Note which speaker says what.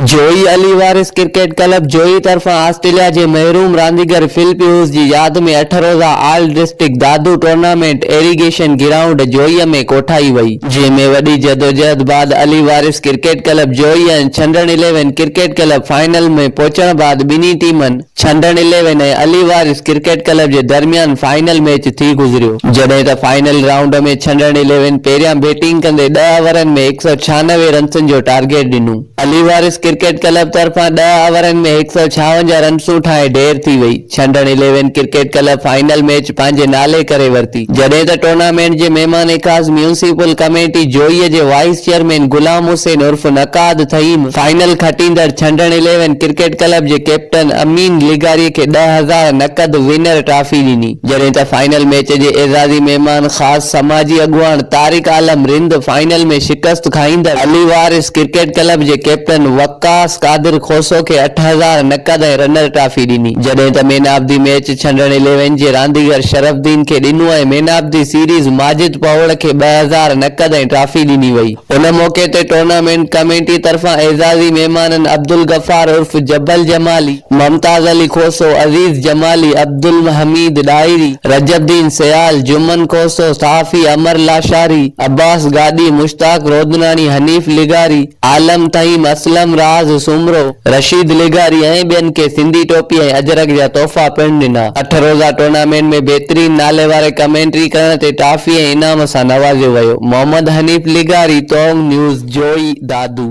Speaker 1: جويي Ali Waris cricket club Johi طرفان Australia جي محروم رانديگر فل پيوز جي ياد ۾ اٺ روزه all district Dadu tournament irrigation ground Johi ۾ ڪوٺائي وئي، جنهن ۾ وڏي جدوجهد بعد Ali Waris cricket club Johi ۽ Chhandan eleven cricket club final ۾ پهچڻ بعد ٻنهي ٽيمن. Chhandan eleven ۽ Ali Waris cricket club جي درميان فائنل ميچ ٿي گذريو. جڏهن ته فائنل رائونڊ ۾ ڇنڊڻ اليون پهريان بيٽنگ ڪندي ڏهه اورن ۾ هڪ سؤ ڇهانوي رنسن جو ٽارگيٽ ڏنو. علي وارث ڪرڪيٽ ڪلب طرفان ڏهه اورن ۾ هڪ سؤ ڇاونجاهه رنسون ٺاهي ڍير ٿي وئي. Chhandan eleven cricket club final match پنهنجي نالي ڪري ورتي جڏهن ته ٽورنامينٽ جي مهمان خاص ميونسپل ڪميٽي جوئي جي وائيس چيئرمين غلام حسين عرف نقاد ٿهيم فائنل کٽيندڙ ڇنڊڻ اليون ڪرڪيٽ ڪلب جي ڪيپٽن امين لغاري کي ڏهه هزار نقد ونر ٽرافي ڏني جڏهن ته فائنل ميچ جي اعزازي مهمان خاص سماجي اڳواڻ طارق عالم رند فائنل ۾ شڪست کائيندڙ علي وارث ڪرڪيٽ ڪلب جي ڪيپٽن وقاص قادر کوسو کي اٺ هزار نقد ۽ رنر ٽرافي ڏني جڏهن ته man of the match Chhandan eleven جي رانديگر شرف الدين کي ڏنو ۽ man of the series Majid Pahore کي ٻه هزار نقد ۽ ٽرافي ڏني وئي. ان موقعي تي ٽورنامينٽ ڪميٽي طرفان اعزازي مهمانن عبدالغفار عرف جبل جمالي، ممتاز علي کوسو، عزيز جمالي، عبدالحميد ڏاهري، رجب الدين سيال، جمن کوسو، صحافي امر لاشاري، عباس گاڏهي، مشتاق رودناڻي، حنيف لغاري، عالم طهيم، اسلم راز سومرو، رشيد لغاري ۽ ٻين کي سنڌي ٽوپي ۽ اجرڪ جا تحفا پڻ ڏنا. اٺ روزه ٽورنامينٽ ۾ بهترين نالي واري ڪمينٽري ڪرڻ تي ٽافي ۽ انعام سان نوازيو ويو. محمد حنيف لغاري توغ نيوز جوئي دادو.